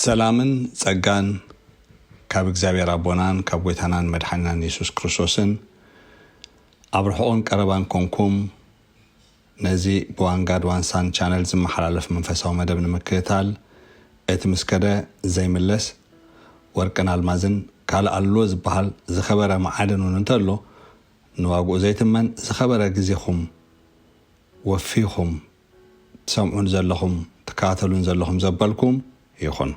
ሰላምን ጸጋን ካብ እግዚኣብሔር ኣቦናን ካብ ጐይታናን መድሓኒናን የሱስ ክርስቶስን ኣብ ርሑቕን ቀረባን ኮንኩም ነዚ ብዋን ጋድ ዋን ሳን ቻነል ዝመሓላለፍ መንፈሳዊ መደብ ንምክትታል እቲ ምስ ከደ ዘይምለስ ወርቅን ኣልማዝን ካልእ ኣሎዎ ዝበሃል ዝኸበረ መዓድን እውን እንተሎ ንዋግኡ ዘይትመን ዝኸበረ ግዜኹም ወፊኹም ትሰምዑን ዘለኹም ትከታተሉን ዘለኹም ዘበልኩም ይኹን።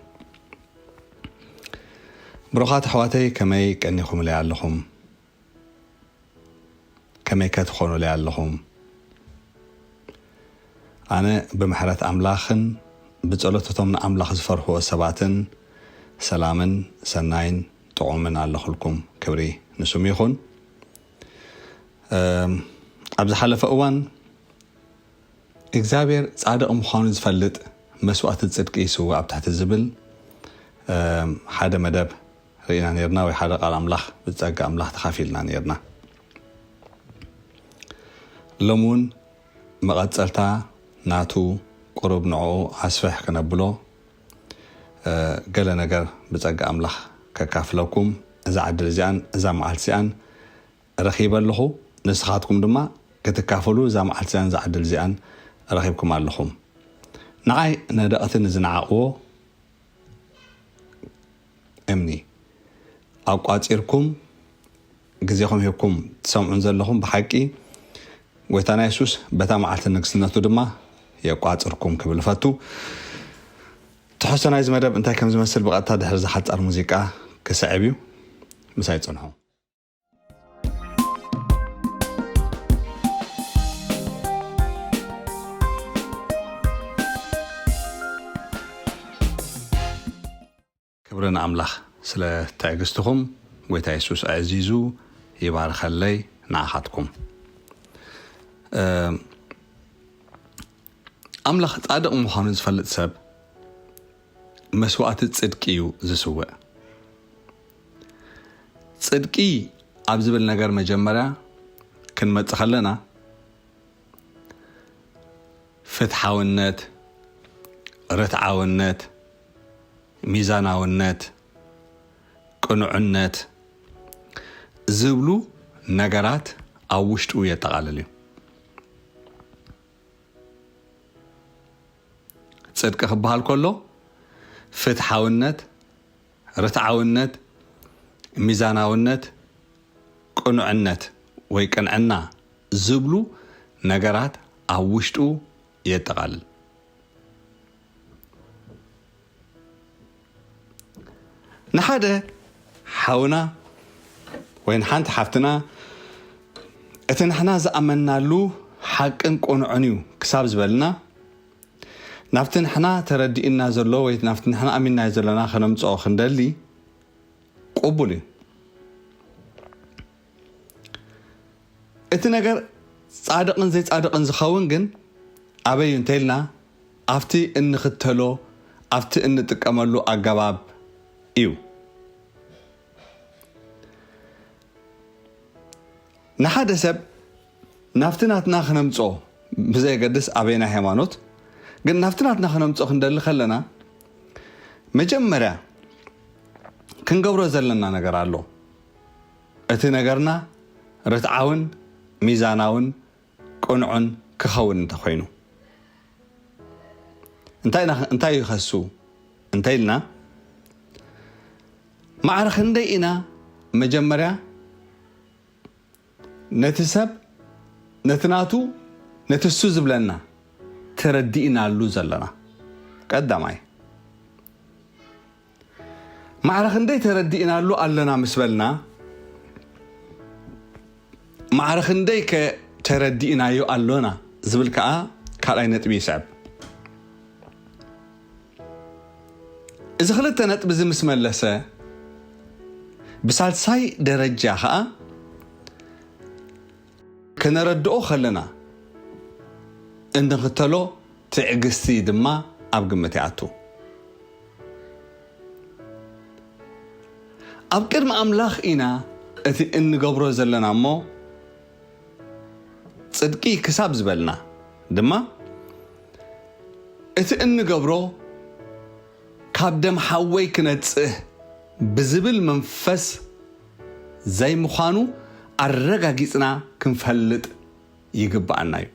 ብሩኻት ኣሕዋተይ ከመይ ቀኒኹምለይ ኣለኹም? ከመይከ ትኾኑለይ ኣለኹም? ኣነ ብምሕረት ኣምላኽን ብጸሎት እቶም ንኣምላኽ ዝፈርህዎ ሰባትን ሰላምን ሰናይን ጥዑምን ኣለኹልኩም። ክብሪ ንስሙ ይኹን። ኣብ ዝሓለፈ እዋን እግዚኣብሔር ጻድቕ ምዃኑ ዝፈልጥ መስዋእቲ ጽድቂ ይስውእ ኣብ ትሕቲ ዝብል ሓደ መደብ ርኢና ኔርና ወይ ሓደ ቃል ኣምላኽ ብጸጋ ኣምላኽ ተኻፊልና ኔርና ሎሚ ውን መቐጸልታ ናቱ ቁሩብ ንዕኡ ኣስፍሕ ክነብሎ ገለ ነገር ብጸጋ ኣምላኽ ከካፍለኩም እዛ ዕድል እዚኣን እዛ መዓልቲ እዚኣን ረኺበ ኣለኹ ንስኻትኩም ድማ ክትካፈሉ እዛ መዓልቲ እዚኣን እዛ ዕድል እዚኣን ረኺብኩም ኣለኹም ንዓይ ነደቕቲ ንዝነዓቕዎ እምኒ ኣቋጺርኩም ግዜኹም ሂብኩም ትሰምዑን ዘለኹም ብሓቂ ጎይታና የሱስ በታ መዓልቲ ንግስነቱ ድማ የቋጽርኩም ክብል እፈቱ ትሕዝቶ ናይዚ መደብ እንታይ ከም ዝመስል ብቐጥታ ድሕሪ ዝሓጻር ሙዚቃ ክስዕብ እዩ ምሳይ ጽንሑ ክብርን ኣምላኽ ስለ ትዕግስትኹም ጎይታ የሱስ ኣዕዚዙ ይባርኸለይ ንኣኻትኩም ኣምላኽ ጻድቕ ምዃኑ ዝፈልጥ ሰብ መስዋእቲ ጽድቂ እዩ ዝስውእ። ጽድቂ ኣብ ዝብል ነገር መጀመርያ ክንመጽእ ከለና ፍትሓውነት፣ ርትዓውነት፣ ሚዛናውነት፣ ቅኑዕነት ዝብሉ ነገራት ኣብ ውሽጡ የጠቓልል እዩ። ጽድቂ ክበሃል ከሎ ፍትሓውነት፣ ርትዓውነት፣ ሚዛናውነት፣ ቅኑዕነት ወይ ቅንዕና ዝብሉ ነገራት ኣብ ውሽጡ የጠቓልል። ንሓደ ሓውና ወይ ንሓንቲ ሓፍትና እቲ ንሕና ዝኣመናሉ ሓቅን ቁኑዕን እዩ ክሳብ ዝበልና ናብቲ ንሕና ተረዲእና ዘሎ ወይ ናብቲ ንሕና ኣሚናዮ ዘለና ከነምፅኦ ክንደሊ ቅቡል እዩ እቲ ነገር ጻድቕን ዘይጻድቕን ዝኸውን ግን ኣበይ እዩ እንተይልና ኣብቲ እንኽተሎ ኣብቲ እንጥቀመሉ ኣገባብ እዩ። ንሓደ ሰብ ናብቲ ናትና ክነምጽኦ ብዘየገድስ ኣበየናይ ሃይማኖት ግን ናብቲ ናትና ክነምጽኦ ክንደሊ ከለና መጀመርያ ክንገብሮ ዘለና ነገር ኣሎ። እቲ ነገርና ርትዓውን ሚዛናውን ቅኑዕን ክኸውን እንተኾይኑ። እንታይ እዩ ከሱ እንተኢልና ማዕረ ክንደይ ኢና መጀመርያ ነቲ ሰብ ነቲ ናቱ ነቲ እሱ ዝብለና ተረዲእናሉ ዘለና ቀዳማይ ማዕረ ክንደይ ተረዲእናሉ ኣለና ምስ በልና፣ ማዕረ ክንደይ ከ ተረዲእናዮ ኣሎና ዝብል ከኣ ካልኣይ ነጥቢ ይስዕብ። እዚ ክልተ ነጥቢ እዚ ምስ መለሰ፣ ብሳልሳይ ደረጃ ከኣ፣ ከነረድኦ ከለና እንኽተሎ ትዕግስቲ ድማ ኣብ ግምት ይኣቱ። ኣብ ቅድሚ ኣምላኽ ኢና እቲ እንገብሮ ዘለና እሞ ጽድቂ ክሳብ ዝበልና ድማ እቲ እንገብሮ ካብ ደም ሓወይ ክነጽህ ብዝብል መንፈስ ዘይምዃኑ ኣረጋጊጽና ክንፈልጥ ይግበኣና እዩ።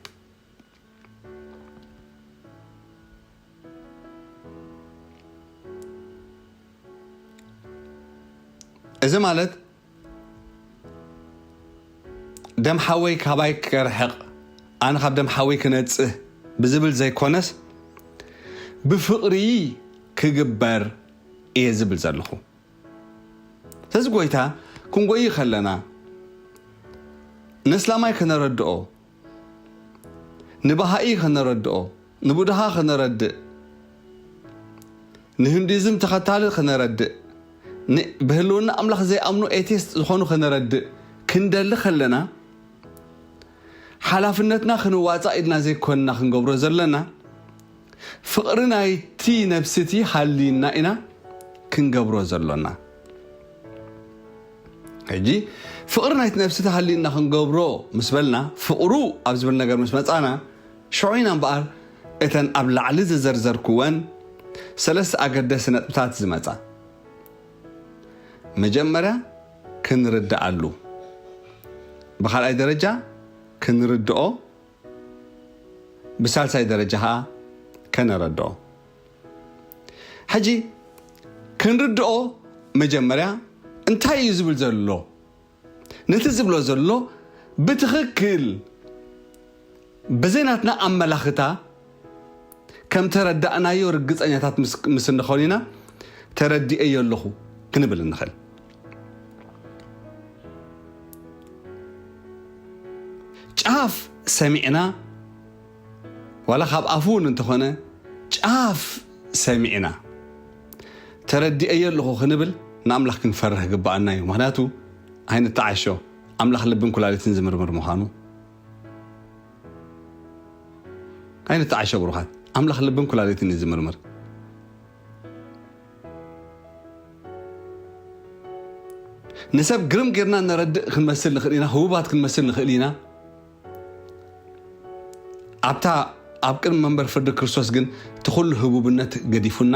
እዚ ማለት ደም ሓወይ ካባይ ክርሕቕ ኣነ ካብ ደም ሓወይ ክነጽህ ብዝብል ዘይኮነስ ብፍቕሪ ክግበር እየ ዝብል ዘለኹ። ስለዚ ጎይታ ክንጎይ ከለና ነስላማይ ከነረድኦ ንባሃኢ ከነረድኦ ንቡድሃ ከነረድእ ንህንዲዝም ተኸታሊ ከነረድእ ብህልውና ኣምላኽ ዘይኣምኑ ኤቲስት ዝኾኑ ከነረድእ ክንደሊ ከለና ሓላፍነትና ክንዋፃእ ኢድና ዘይኮንና ክንገብሮ ዘለና ፍቕሪ ናይቲ ነብሲቲ ሃልዩና ኢና ክንገብሮ ዘሎና። ሕጂ ፍቕሪ ናይቲ ነብሲቲ ሃልዩና ክንገብሮ ምስ በልና፣ ፍቕሩ ኣብ ዝብል ነገር ምስ መጻእና፣ ሽዑ ኢና እምበኣር እተን ኣብ ላዕሊ ዝዘርዘርኩወን ሰለስተ ኣገደስቲ ነጥብታት ዝመጻ መጀመርያ ክንርድኣሉ፣ ብኻልኣይ ደረጃ ክንርድኦ፣ ብሳልሳይ ደረጃ ከኣ ከነረድኦ። ሕጂ ክንርድኦ መጀመርያ እንታይ እዩ ዝብል ዘሎ ነቲ ዝብሎ ዘሎ ብትኽክል ብዘይ ናትና ኣመላኽታ ከም ተረዳእናዮ ርግጸኛታት ምስ እንኸን ኢና ተረዲኤዮ ኣለኹ ክንብል እንኸል። ጫፍ ሰሚዕና ዋላ ካብ ኣፉ እውን እንተኾነ ጫፍ ሰሚዕና ተረዲኤዮ ኣለኹ ክንብል ንኣምላኽ ክንፈርህ ግብኣና እዩ። ምክንያቱ ኣይንተዓሾ ኣምላኽ ልብን ኩላሊትን ዝምርምር ምዃኑ ኣይንተዓሸ ብሩኻት ኣምላኽ ልብን ኩላሊትን እዩ ዝምርምር። ንሰብ ግርም ጌርና ነረድእ ክንመስል ንኽእል ኢና፣ ህቡባት ክንመስል ንኽእል ኢና። ኣብታ ኣብ ቅድሚ መንበር ፍርዲ ክርስቶስ ግን እቲ ኩሉ ህቡብነት ገዲፉና፣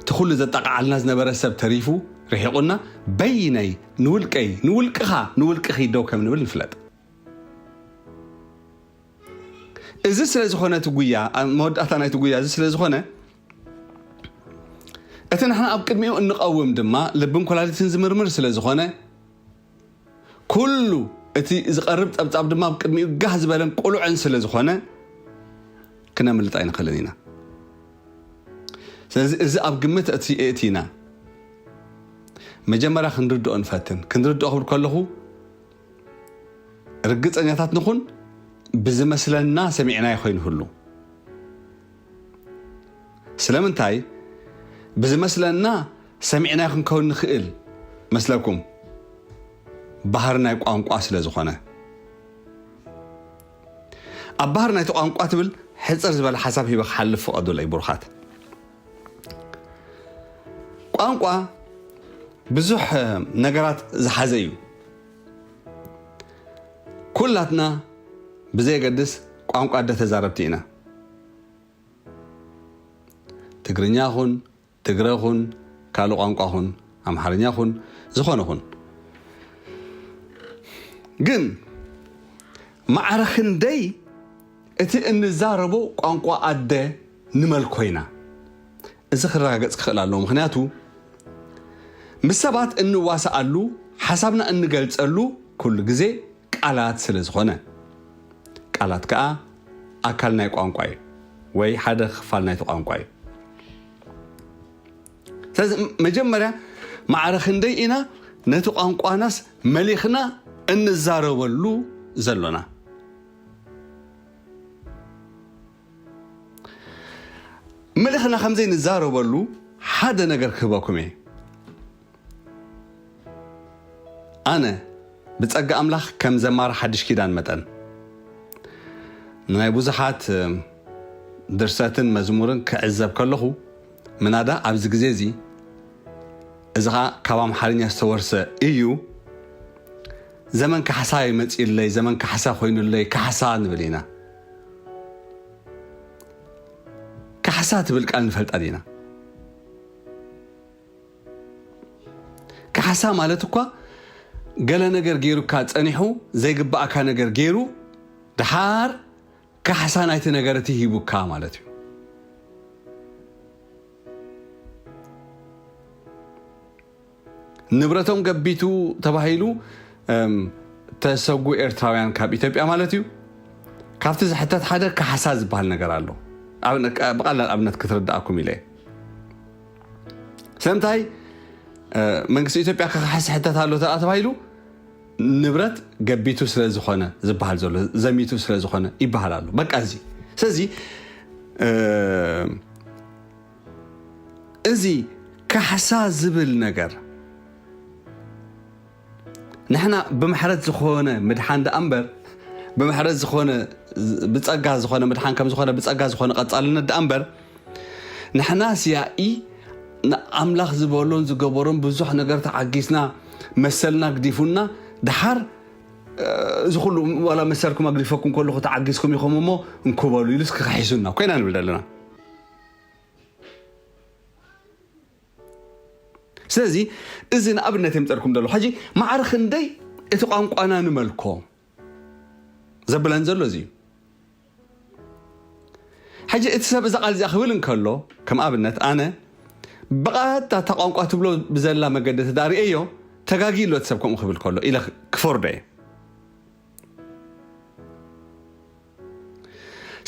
እቲ ኩሉ ዘጣቕዓልና ዝነበረ ሰብ ተሪፉ ርሒቑና፣ በይነይ፣ ንውልቀይ፣ ንውልቅኻ፣ ንውልቅኺ ደው ከም ንብል ንፍለጥ። እዚ ስለ ዝኾነ እቲ ጉያ መወዳእታ ናይቲ ጉያ እዚ ስለ ዝኾነ እቲ ንሕና ኣብ ቅድሚኡ እንቐውም ድማ ልብን ኮላሊትን ዝምርምር ስለ ዝኾነ ኩሉ እቲ ዝቐርብ ጸብጻብ ድማ ኣብ ቅድሚኡ ጋህ ዝበለን ቁሉዕን ስለ ዝኾነ ክነምልጥ ኣይንኽእልን ኢና ስለዚ እዚ ኣብ ግምት እቲና መጀመርያ ክንርድኦ ንፈትን ክንርድኦ ክብል ከለኹ ርግጸኛታት ንኹን ብዝመስለና ሰሚዕናዮ ከይንህሉ። ስለምንታይ ብዝመስለና ሰሚዕናዮ ክንከውን ንኽእል መስለኩም? ባህሪ ናይ ቋንቋ ስለ ዝኾነ። ኣብ ባህሪ ናይቲ ቋንቋ ትብል ሕጽር ዝበለ ሓሳብ ሂበ ክሓልፍ ፍቐዱለይ ብሩኻት። ቋንቋ ብዙሕ ነገራት ዝሓዘ እዩ ኩላትና ብዘየገድስ ቋንቋ ኣደ ተዛረብቲ ኢና ትግርኛ ኹን ትግረ ኹን ካልእ ቋንቋ ኹን ኣምሓርኛ ኹን ዝኾነ ኹን ግን ማዕረ ክንደይ እቲ እንዛረቦ ቋንቋ ኣደ ንመል ኮይና እዚ ክረጋገጽ ክኽእል ኣለዎ ምኽንያቱ ምስ ሰባት እንዋሳኣሉ ሓሳብና እንገልጸሉ ኩሉ ግዜ ቃላት ስለ ዝኾነ ቃላት ከኣ ኣካል ናይ ቋንቋ እዩ ወይ ሓደ ክፋል ናይቲ ቋንቋ እዩ ስለዚ መጀመርያ ማዕረ ክንደይ ኢና ነቲ ቋንቋናስ መሊኽና እንዛረበሉ ዘሎና ምልኽና ከም ዘይንዛረበሉ ሓደ ነገር ክህበኩም እየ። ኣነ ብጸጋ ኣምላኽ ከም ዘማሪ ሓድሽ ኪዳን መጠን ንናይ ብዙሓት ድርሰትን መዝሙርን ክዕዘብ ከለኹ ምናዳ ኣብዚ ግዜ እዚ እዚ ኸኣ ካብ ኣምሓርኛ ዝተወርሰ እዩ ዘመን ካሕሳ ይመፅዩለይ ዘመን ካሕሳ ኮይኑለይ ካሕሳ ንብል ኢና ካሕሳ ትብል ቃል ንፈልጣ ዲና? ካሕሳ ማለት እኳ ገለ ነገር ገይሩካ ጸኒሑ ዘይግባእካ ነገር ገይሩ ድሓር ካሕሳ ናይቲ ነገር እቲ ሂቡካ ማለት እዩ ንብረቶም ገቢቱ ተባሂሉ ተሰጉ ኤርትራውያን ካብ ኢትዮጵያ ማለት እዩ ካብቲ ዝሕተት ሓደ ካሕሳ ዝበሃል ነገር ኣሎ ብቃላል ኣብነት ክትርዳኣኩም ኢለ ስለምንታይ መንግስቲ ኢትዮጵያ ክካሕስ ሕተት ኣሎ ተኣ ተባሂሉ ንብረት ገቢቱ ስለ ዝኾነ ዝበሃል ዘሎ ዘሚቱ ስለ ዝኾነ ይበሃል ኣሎ በቃ እዚ ስለዚ እዚ ካሕሳ ዝብል ነገር ንሕና ብምሕረት ዝኾነ ምድሓን ደኣ እምበር ብምሕረት ዝኾነ ብጸጋ ዝኾነ ምድሓን ከም ዝኾነ ብጸጋ ዝኾነ ቀጻልነት ደኣ እምበር ንሕናስ ያኢ ንኣምላኽ ዝበሎን ዝገበሮን ብዙሕ ነገር ተዓጊስና መሰልና ግዲፉና ድሓር እዚ ኩሉ ዋላ መሰልኩም ኣግዲፈኩም ከለኹ ተዓጊዝኩም ኢኹም እሞ እንኩበሉ ኢሉስ ክኸሒሱና ኮይና ንብል ዘለና ስለዚ እዚ ንኣብነት የምፀልኩም ዘሎ ሕጂ ማዕረ ክንደይ እቲ ቋንቋና ንመልኮ ዘብለን ዘሎ እዚ እዩ ሕጂ እቲ ሰብ እዛ ቃል እዚኣ ክብል እንከሎ ከም ኣብነት ኣነ ብቐጥታ እታ ቋንቋ ትብሎ ብዘላ መገዲ ተዳርእዮ ተጋጊ ኣሎ እቲ ሰብ ከምኡ ክብል ከሎ ኢለ ክፈርዶ እየ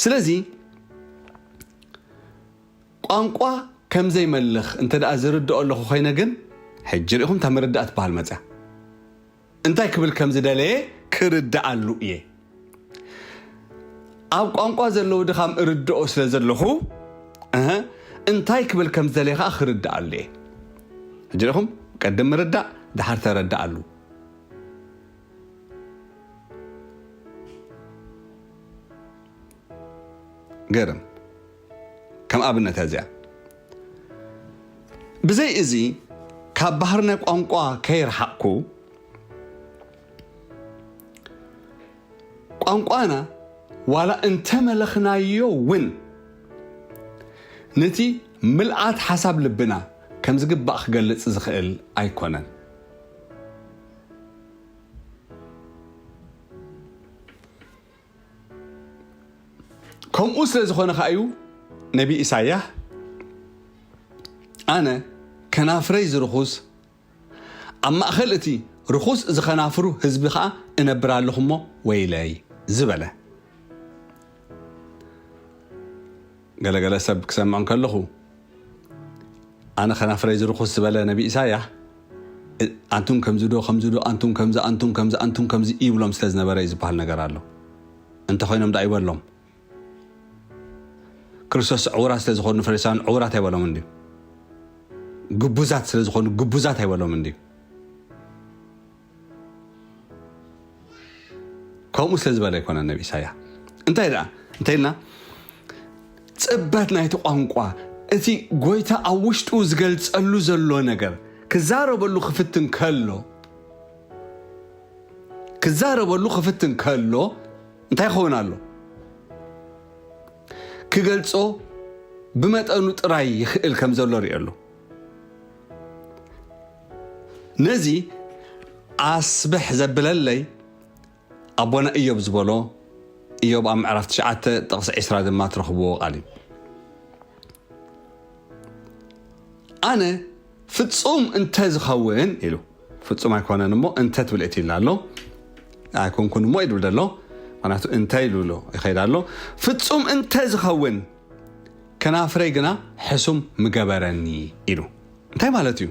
ስለዚ ቋንቋ ከም ዘይመልኽ እንተ ደኣ ዝርድኦ ኣለኹ ኮይነ ግን ሕጂ ርኢኹም እታ ምርዳእ ትበሃል መፅያ እንታይ ክብል ከም ዝደለየ ክርድኣሉ እየ ኣብ ቋንቋ ዘለዉ ድኻም እርድኦ ስለ ዘለኹ እንታይ ክብል ከም ዝደለየ ከዓ ክርድኣሉ እየ ሕጂ ርኢኹም ቀድም ምርዳእ ድሓር ተረድኣሉ ገርም ከም ኣብነት እያ እዚኣ ብዘይ እዚ ካብ ባህርነ ቋንቋ ከይርሓቕኩ ቋንቋና ዋላ እንተመለኽናዮ እውን ነቲ ምልኣት ሓሳብ ልብና ከም ዝግባእ ክገልጽ ዝኽእል ኣይኮነን ከምኡ ስለ ዝኾነ ከዓ እዩ ነቢ ኢሳያ ኣነ ከናፍረይ ዝርኹስ ኣብ ማእኸል እቲ ርኹስ ዝኸናፍሩ ህዝቢ ከዓ እነብር ኣለኹ እሞ ወይለይ ዝበለ ገለ ገለ ሰብ ክሰምዕ ከለኹ ኣነ ከናፍረይ ዝርኹስ ዝበለ ነቢ ኢሳያ ኣንቱም ከምዚ ዶ ከምዚ ዶ ኣንቱም ከምዚ ኣንቱም ከምዚ ኣንቱም ከምዚ ይብሎም ስለ ዝነበረ እዩ ዝበሃል ነገር ኣሎ እንተ ኮይኖም ደኣ ይበሎም ክርስቶስ ዕውራት ስለ ዝኾኑ ፈሪሳውያን ዕውራት ኣይበሎምን ድዩ ግቡዛት ስለ ዝኾኑ ግቡዛት ኣይበሎምን ድዩ ከምኡ ስለ ዝበለ ኣይኮነን ነቢ ኢሳያ እንታይ ደኣ እንተይልና ጽበት ናይቲ ቋንቋ እቲ ጎይታ ኣብ ውሽጡ ዝገልጸሉ ዘሎ ነገር ክዛረበሉ ክፍትን ከሎ ክዛረበሉ ክፍትን ከሎ እንታይ ይኸውን ኣሎ ክገልጾ ብመጠኑ ጥራይ ይኽእል ከም ዘሎ ሪኦ ኣሎ ነዚ ኣስብሕ ዘብለለይ ኣቦና እዮብ ዝበሎ እዮብ ኣብ ምዕራፍ ትሽዓተ ጥቕሲ ዕስራ ድማ ትረኽብዎ ቃል እዩ ኣነ ፍጹም እንተ ዝኸውን ኢሉ ፍጹም ኣይኮነን እሞ እንተ ትብል እቲ ኢላ ኣሎ ኣይኮንኩን እሞ ይብል ደሎ ምክንያቱ እንታይ ኢሉ ኣሎ ይኸይድ ኣሎ ፍጹም እንተ ዝኸውን ከናፍረይ ግና ሕሱም ምገበረኒ ኢሉ እንታይ ማለት እዩ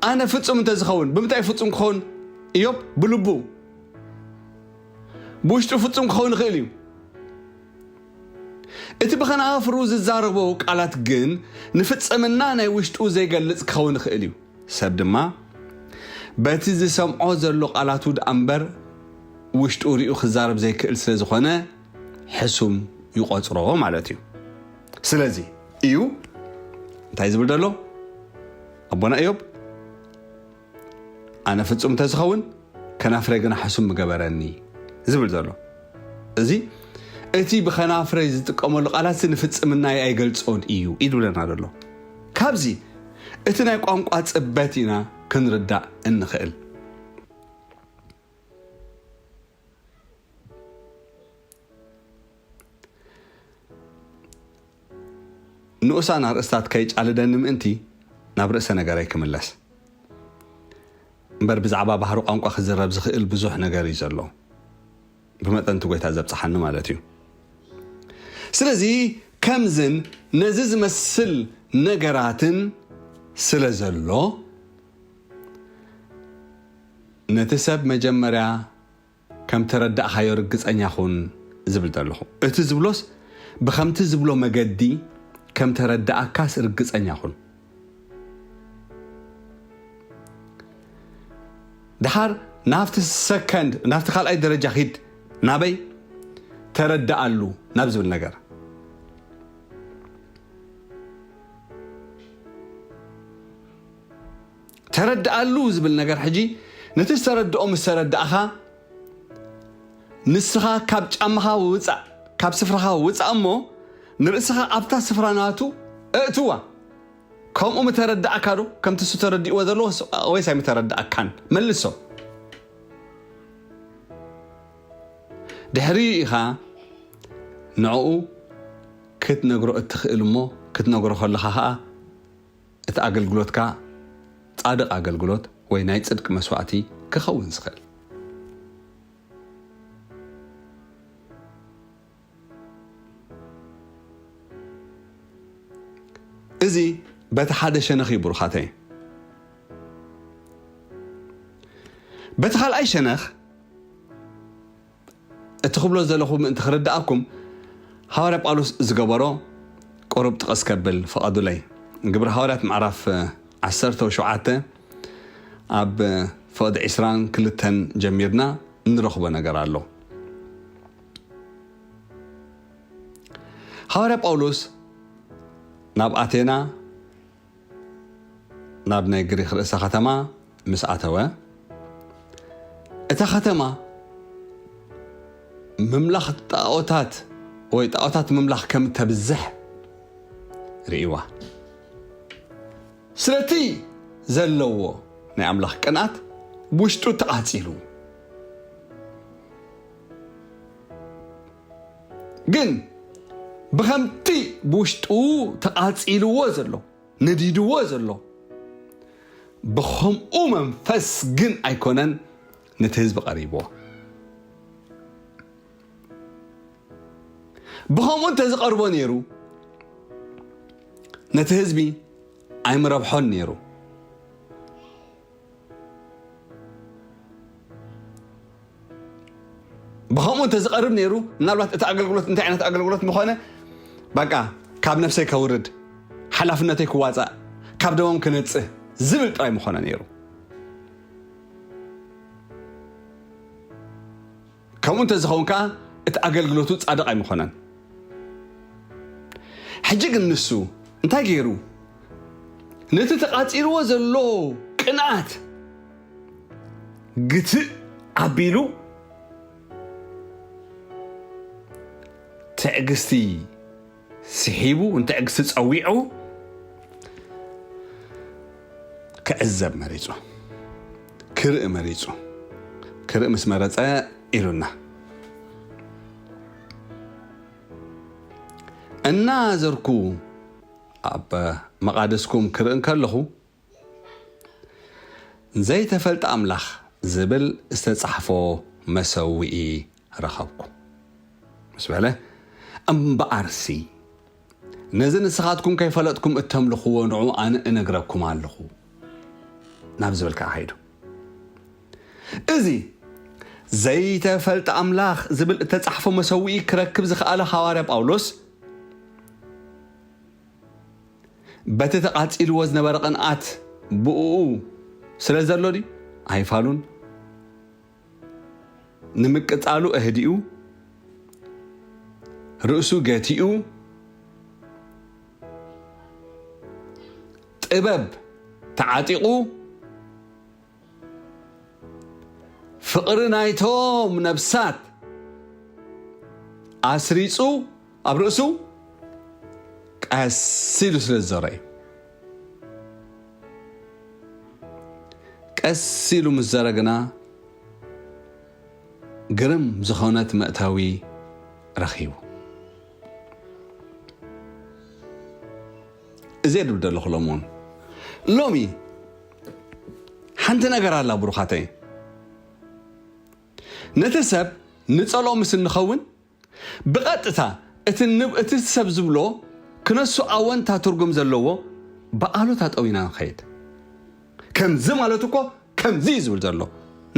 ኣነ ፍጹም እንተዝኸውን ብምንታይ ፍጹም ክኸውን እዮብ ብልቡ ብውሽጡ ፍጹም ክኸውን ይኽእል እዩ እቲ ብኸነኣፍሩ ዝዛረቦ ቃላት ግን ንፍጽምና ናይ ውሽጡ ዘይገልጽ ክኸውን ይኽእል እዩ ሰብ ድማ በቲ ዝሰምዖ ዘሎ ቃላቱ ድኣ እምበር ውሽጡ ሪኡ ክዛረብ ዘይክእል ስለ ዝኾነ ሕሱም ይቖጽሮ ማለት እዩ ስለዚ እዩ እንታይ ዝብል ዘሎ ኣቦና እዮብ ኣነ ፍጹም እንተዝኸውን ከናፍረ ግና ሕሱም ምገበረኒ ዝብል ዘሎ እዚ እቲ ብኸናፍረ ዝጥቀመሉ ቃላት ንፍጽምናይ ኣይገልጾን እዩ ኢሉለና ዘሎ ካብዚ እቲ ናይ ቋንቋ ጽበት ኢና ክንርዳእ እንኽእል ንኡሳን ኣርእስታት ከይጫልደኒ ምእንቲ ናብ ርእሰ ነገረይ ክምለስ። እምበር ብዛዕባ ባህሪ ቋንቋ ክዝረብ ዝኽእል ብዙሕ ነገር እዩ ዘሎ። ብመጠን እቲ ጎይታ ዘብጽሓኒ ማለት እዩ። ስለዚ ከምዝን ነዚ ዝመስል ነገራትን ስለ ዘሎ ነቲ ሰብ መጀመርያ ከም ተረዳእካዮ ርግጸኛ ኩን ዝብል ዘለኹ። እቲ ዝብሎስ ብከምቲ ዝብሎ መገዲ ከም ተረዳኣካስ ርግጸኛ ኩን። ደሓር ናብቲ ሰከንድ ናብቲ ካልኣይ ደረጃ ኪድ ናበይ? ተረዳኣሉ ናብ ዝብል ነገር። ተረድኣሉ ዝብል ነገር ሕጂ ነቲ ዝተረድኦ ምስ ተረድኣኻ ንስኻ ካብ ጫማኻ ውጻእ ካብ ስፍራኻ ውጻእ እሞ ንርእስኻ ኣብታ ስፍራ ናቱ እእትዋ ከምኡ ምተረድኣካ ዶ ከምቲ እሱ ተረድእዎ ዘሎ ወይስ ኣይምተረድኣካን መልሶ ድሕሪ ኢኻ ንዕኡ ክትነግሮ እትኽእል እሞ ክትነግሮ ከለኻ ኸኣ እቲ ኣገልግሎትካ ጻድቕ ኣገልግሎት ወይ ናይ ጽድቂ መስዋእቲ ክኸውን ዝኽእል። እዚ በቲ ሓደ ሸነኽ እዩ ብሩኻተይ። በቲ ካልኣይ ሸነኽ እቲ ክብሎ ዘለኹ ምእንቲ ክርድኣኩም ሃዋርያ ጳውሎስ ዝገበሮ ቁሩብ ጥቕስ ከብል ፍቐዱለይ። ግብሪ ሃዋርያት ምዕራፍ ዓሰርተው ሸውዓተ ኣብ ፍቕዲ ዕስራን ክልተን ጀሚርና እንረኽቦ ነገር ኣሎ። ሃዋርያ ጳውሎስ ናብ ኣቴና፣ ናብ ናይ ግሪኽ ርእሰ ኸተማ ምስ ኣተወ፣ እታ ኸተማ ምምላኽ ጣኦታት ወይ ጣኦታት ምምላኽ ከም እተብዝሕ ርእይዋ። ስለቲ ዘለዎ ናይ ኣምላኽ ቅንኣት ብውሽጡ ተቓጺሉ። ግን ብኸምቲ ብውሽጡ ተቓጺልዎ ዘሎ ነዲድዎ ዘሎ ብኸምኡ መንፈስ ግን ኣይኮነን ነቲ ህዝቢ ቀሪብዎ። ብኸምኡ እንተዝቐርቦ ነይሩ ነቲ ህዝቢ ኣይምረብሖን ነይሩ። ብከምኡ እንተዝቀርብ ነይሩ ምናልባት እቲ ኣገልግሎት እንታይ ዓይነት ኣገልግሎት ምኾነ በቃ ካብ ነፍሰይ ከውርድ ሓላፍነተይ ክዋፃእ ካብ ደሞም ክነፅህ ዝብል ጥራይ ምኾነ ነይሩ ከምኡ እንተ ዝኸውን ከኣ እቲ ኣገልግሎቱ ጻድቕ ኣይምኾነን። ሕጂ ግን ንሱ እንታይ ገይሩ? ነቲ ተቛጺርዎ ዘሎ ቅንኣት ግትእ ኣቢሉ ትዕግስቲ ስሒቡ ንትዕግስቲ ጸዊዑ ክዕዘብ መሪጹ ክርኢ መሪጹ ክርኢ ምስ መረጸ ኢሉና እናዘርኩ ኣብ መቓደስኩም ክርኢ እንከለኹ ዘይተፈልጠ ኣምላኽ ዝብል ዝተጻሕፎ መሰውኢ ረኸብኩ ምስ በለ፣ እምበኣርሲ ነዚ ንስኻትኩም ከይፈለጥኩም እተምልኽዎ ንዑ ኣነ እነግረኩም ኣለኹ ናብ ዝብል ከኣ ከይዱ። እዚ ዘይተፈልጠ ኣምላኽ ዝብል እተጻሕፎ መሰውኢ ክረክብ ዝኸኣለ ሃዋርያ ጳውሎስ፣ በቲ ተቓጺልዎ ዝነበረ ቕንኣት ብእኡ ስለ ዘሎ ድዩ? ኣይፋሉን። ንምቅጻሉ ኣህዲኡ፣ ርእሱ ገቲኡ፣ ጥበብ ተዓጢቑ፣ ፍቕሪ ናይቶም ነብሳት ኣስሪጹ ኣብ ርእሱ ቀስ ኢሉ ስለ ዝዘሮ እዩ። ቀስ ኢሉ ምስ ዘረ ግና ግርም ዝኾነት መእተዊ ረኺቡ። እዚ ድብ ደለኹ ሎምውን ሎሚ ሓንቲ ነገር ኣላ ብሩኻተይ ነቲ ሰብ ንጸሎ ምስ እንኸውን ብቐጥታ እቲ እቲ ሰብ ዝብሎ ክነሱ ኣወንታ ትርጉም ዘለዎ ብኣሉታ ጠዊና ንኸይድ ከምዚ ማለት እኮ ከምዚ እዩ ዝብል ዘሎ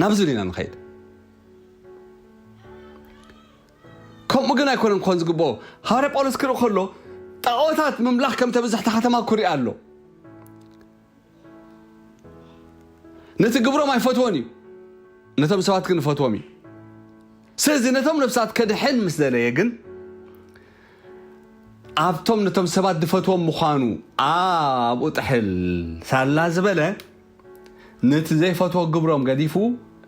ናብዚ ኢና ንኸይድ ከምኡ ግን ኣይኮነን ክኾን ዝግብኦ ሃዋርያ ጳውሎስ ክርኢ ከሎ ጣዖታት ምምላኽ ከም ተብዝሕቲ ከተማ ኩሪኣ ኣሎ ነቲ ግብሮም ኣይፈትዎን እዩ፣ ነቶም ሰባት ግን ይፈትዎም እዩ። ስለዚ ነቶም ነፍሳት ከድሕን ምስ ደለየ ግን ኣብቶም ነቶም ሰባት ዝፈትዎም ምዃኑ ኣብኡ ጥሕል ሳላ ዝበለ ነቲ ዘይፈትዎ ግብሮም ገዲፉ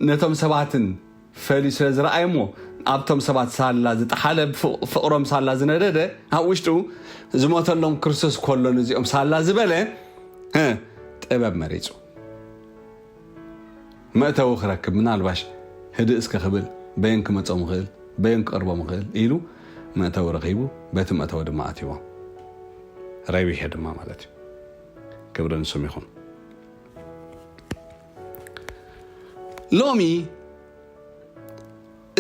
ነቶም ሰባትን ፈልዩ ስለ ዝረኣየ'ሞ ኣብቶም ሰባት ሳላ ዝጠሓለ ፍቕሮም ሳላ ዝነደደ ኣብ ውሽጡ ዝሞተሎም ክርስቶስ ኮሎ ንዚኦም ሳላ ዝበለ ጥበብ መሪጹ መእተዊ ክረክብ ምናልባሽ ህድእ እስከ ክብል በየን ክመጾም ይኽእል በየን ክቐርቦም ይኽእል ኢሉ መእተዊ ረኺቡ በቲ መእተዊ ድማ ኣትይዎም ረቢሐ ድማ ማለት እዩ ክብሪ ንሱም ይኹን ሎሚ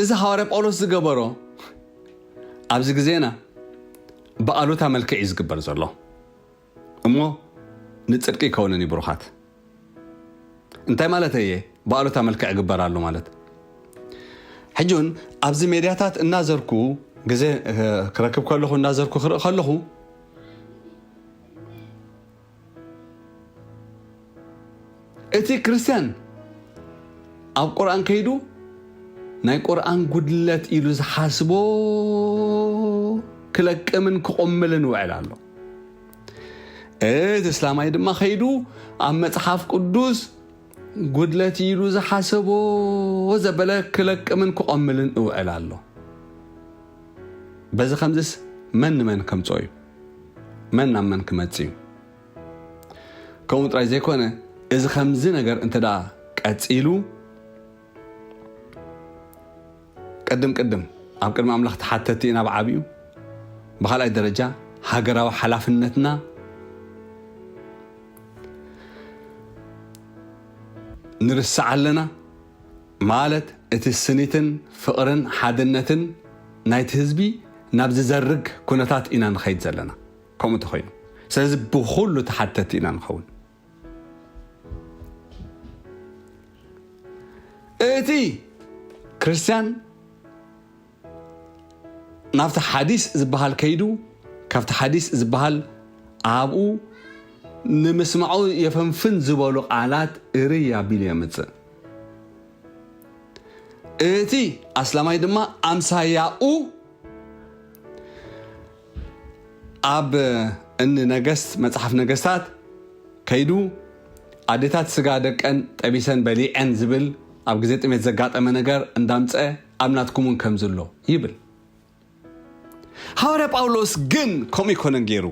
እዚ ሃዋርያ ጳውሎስ ዝገበሮ ኣብዚ ግዜና ብኣሉታ መልክዕ እዩ ዝግበር ዘሎ እሞ ንጽድቂ ይከውንን እዩ ብሩኻት እንታይ ማለት እየ ብኣሉታ መልክዕ ግበር ኣሎ ማለት ሕጂ እውን ኣብዚ ሜድያታት እናዘርኩ ግዜ ክረክብ ከለኹ እናዘርኩ ክርኢ ከለኹ እቲ ክርስትያን ኣብ ቁርኣን ከይዱ ናይ ቁርኣን ጉድለት ኢሉ ዝሓስቦ ክለቅምን ክቑምልን ይውዕል ኣሎ። እቲ እስላማይ ድማ ከይዱ ኣብ መጽሓፍ ቅዱስ ጉድለት ኢሉ ዝሓሰቦ ዘበለ ክለቅምን ክቆምልን እውዕል ኣሎ በዚ ከምዚስ መን ንመን ከምጾ እዩ መን ናብ መን ክመጽእ እዩ? ከምኡ ጥራይ ዘይኮነ እዚ ከምዚ ነገር እንተ ቀጺሉ ቅድም ቅድም ኣብ ቅድሚ ኣምላኽ ተሓተቲ ኢና ብዓቢኡ ብካልኣይ ደረጃ ሃገራዊ ሓላፍነትና ንርስዕ ኣለና ማለት እቲ ስኒትን ፍቕርን ሓድነትን ናይቲ ህዝቢ ናብ ዝዘርግ ኩነታት ኢና ንኸይድ ዘለና ከምኡ እንተኾይኑ ስለዚ ብኹሉ ተሓተቲ ኢና ንኸውን። እቲ ክርስትያን ናብቲ ሓዲስ ዝበሃል ከይዱ ካብቲ ሓዲስ ዝበሃል ኣብኡ ንምስማዑ የፈንፍን ዝበሉ ቃላት እርይ ኣቢሉ የምጽእ። እቲ ኣስላማይ ድማ ኣምሳያኡ ኣብ እኒ ነገስት መፅሓፍ ነገስታት ከይዱ ኣዴታት ስጋ ደቀን ጠቢሰን በሊዐን ዝብል ኣብ ግዜ ጥሜት ዘጋጠመ ነገር እንዳምፀ ኣብ ናትኩም እውን ከምዚ ኣሎ ይብል። ሃዋርያ ጳውሎስ ግን ከምኡ ኣይኮነን ገይሩ።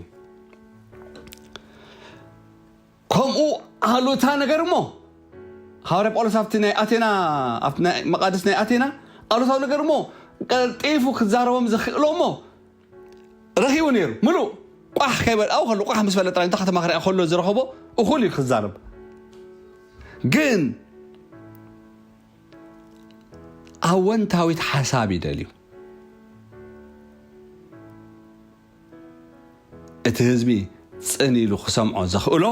ከምኡ ኣሉታ ነገር እሞ ሃዋርያ ጳውሎስ ኣብቲ ናይ ኣቴና ኣብቲ ናይ መቓድስ ናይ ኣቴና ኣሉታዊ ነገር እሞ ቀልጢፉ ክዛረቦም ዘኽእሎ እሞ ረኺቡ ነይሩ ምሉእ ቋሕ ከይበልኣው ከሎ ቋሕ ምስ በለ ጥራይ እንተ ከተማ ክርያ ከሎ ዝረኸቦ እኹል እዩ ክዛረብ ግን ኣወንታዊት ሓሳብ ይደልዩ እቲ ህዝቢ ጽን ኢሉ ክሰምዖ ዘኽእሎ፣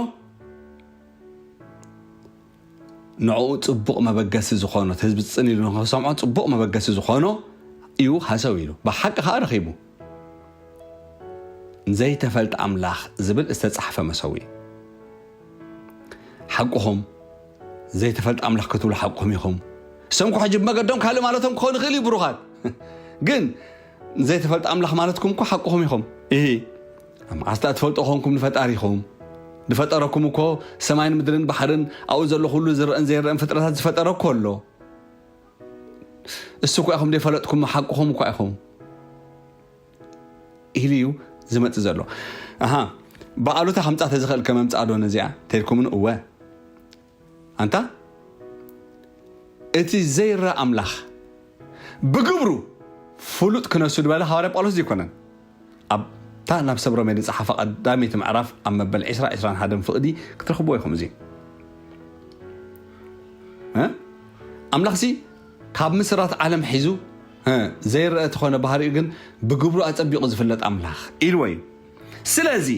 ንዕኡ ጽቡቕ መበገሲ ዝኾኖ፣ እቲ ህዝቢ ጽን ኢሉ ንኽሰምዖ ጽቡቕ መበገሲ ዝኾኖ እዩ ሃሰው ኢሉ። ብሓቂ ከኣ ረኺቡ። ዘይተፈልጠ ኣምላኽ ዝብል ዝተጻሕፈ መሰውኢ። ሓቁኹም ዘይተፈልጠ ኣምላኽ ክትብሉ ሓቁኹም ኢኹም። ሰምኩ ሕጂ ብመገዶም ካልእ ማለቶም ክኾን ይኽእል እዩ ብሩኻት። ግን ዘይተፈልጠ ኣምላኽ ማለትኩም እኮ ሓቁኹም ኢኹም ኢሂ ኣብ መዓስ ድኣ ትፈልጦ ኮንኩም ንፈጣሪኹም ዝፈጠረኩም እኮ ሰማይን ምድርን ባሕርን ኣብኡ ዘሎ ኩሉ ዝረኣን ዘይረኣን ፍጥረታት ዝፈጠረ እኮ ኣሎ እሱ እኳ ኢኹም ዘይፈለጥኩም ሓቁኹም እኳ ኢኹም ኢሉ እዩ ዝመፅእ ዘሎ ኣሃ ብኣሉታ ከምፃእ ተዝኽእል ከመምፃእ ዶ ነዚኣ ተልኩምን እወ ኣንታ እቲ ዘይረኣ ኣምላኽ ብግብሩ ፍሉጥ ክነሱ ድበለ ሃዋርያ ጳውሎስ ድይኮነን ኣብ እታ ናብ ሰብ ሮሜ ድጸሓፋ ቀዳመይቲ ምዕራፍ ኣብ መበል ዕስራ ዕስራን ሓደን ፍቕዲ ክትረኽብዎ ኢኹም እዚ ኣምላኽሲ ካብ ምስራት ዓለም ሒዙ ዘይረአ ተኾነ ባህሪኡ ግን ብግብሩ ኣጸቢቑ ዝፍለጥ ኣምላኽ ኢልዎ እዩ ስለዚ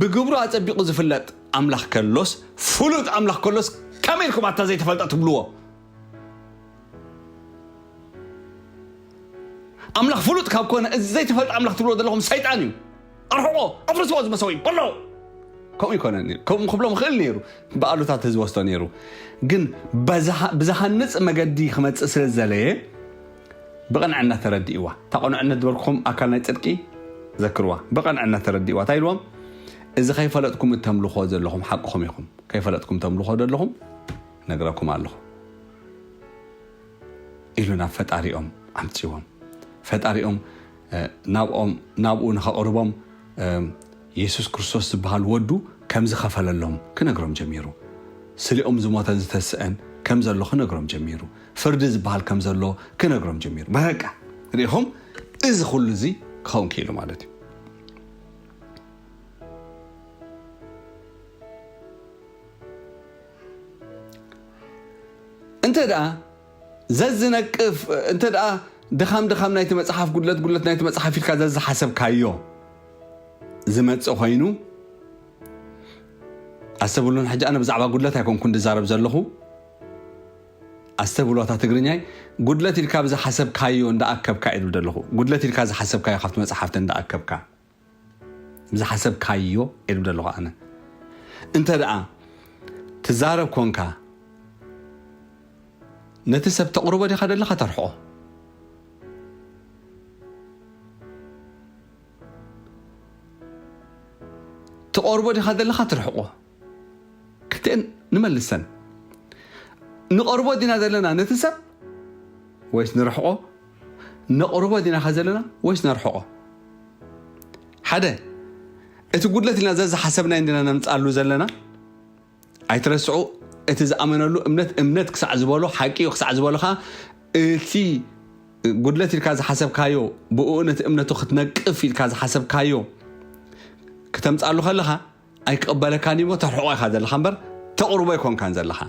ብግብሩ ኣጸቢቁ ዝፍለጥ ኣምላኽ ከሎስ ፍሉጥ ኣምላኽ ከሎስ ከመይ ኢልኩም ኣታ ዘይተፈልጠ ትብልዎ ኣምላኽ ፍሉጥ ካብ ኮነ እዚ ዘይተፈልጠ ኣምላኽ ትብልዎ ዘለኹም ሰይጣን እዩ ኣርሕቆ ኣፍርስዎ ዝመሰው እዩ በሎ ከምኡ ይኮነን ከምኡ ክብሎም ክእል ነይሩ ብኣሉታት ህዝቢ ወስዶ ነይሩ ግን ብዝሃንፅ መገዲ ክመፅእ ስለ ዝዘለየ ብቕንዕና ተረዲእዋ። እታ ቅኑዕነት ዝበልኩኹም ኣካል ናይ ጽድቂ ዘክርዋ። ብቕንዕና ተረዲእዋ። እንታይ ኢልዎም? እዚ ከይፈለጥኩም እተምልኹዎ ዘለኹም ሓቅኹም ኢኹም። ከይፈለጥኩም ተምልኹዎ ዘለኹም እነግረኩም ኣለኹ። ኢሉ ናብ ፈጣሪኦም ኣምጺዎም። ፈጣሪኦም ናብኦም ናብኡ ንኸቕርቦም የሱስ ክርስቶስ ዝበሃል ወዱ ከም ዝኸፈለሎም ክነግሮም ጀሚሩ። ስሌኦም ዝሞተን ዝተስእን ከም ዘሎ ክነግሮም ጀሚሩ። ፍርዲ ዝበሃል ከም ዘሎ ክነግሮም ጀሚሩ። በቃ ርኢኹም እዚ ኩሉ እዚ ክኸውን ክኢሉ ማለት እዩ። እንተ ደኣ ዘዝነቅፍ እንተ ደኣ ድኻም ድኻም ናይቲ መጽሓፍ ጉድለት ጉድለት ናይቲ መጽሓፍ ኢልካ ዘዝሓሰብካዮ ዝመጽእ ኮይኑ ኣሰብሉን ሕጂ ኣነ ብዛዕባ ጉድለት ኣይኮንኩን ድዛረብ ዘለኹ ኣስተብህሎ'ታ ትግርኛይ ጉድለት ኢልካ ብዝሓሰብካዮ እንዳኣከብካ እየ ዝብል ዘለኹ ጉድለት ኢልካ ዝሓሰብካዮ ካብቲ መጽሓፍቲ እንዳኣከብካ ብዝሓሰብካዮ እየ ዝብል ዘለኹ ኣነ እንተ ደኣ ትዛረብ ኮንካ ነቲ ሰብ ተቕርቦ ዲኻ ደለኻ ተርሕቆ ትቐርቦ ዲኻ ዘለኻ ትርሕቆ ክልቲኤን ንመልሰን። ንቐርቦ ዲና ዘለና ነቲ ሰብ ወይስ ንርሕቆ? ነቕርቦ ዲናኸ ዘለና ወይስ ነርሕቆ? ሓደ እቲ ጉድለት ኢልና ዘዝሓሰብናዮ እንዲና ነምጽኣሉ ዘለና። ኣይትረስዑ እቲ ዝኣመነሉ እምነት እምነት ክሳዕ ዝበሎ ሓቂ እዩ ክሳዕ ዝበሎ ከዓ እቲ ጉድለት ኢልካ ዝሓሰብካዮ ብእኡ ነቲ እምነቱ ክትነቅፍ ኢልካ ዝሓሰብካዮ ክተምጽኣሉ ከለኻ ኣይክቕበለካን እዩሞ ተርሕቆ ኢኻ ዘለኻ እምበር ተቕርቦ ኣይኮንካን ዘለኻ።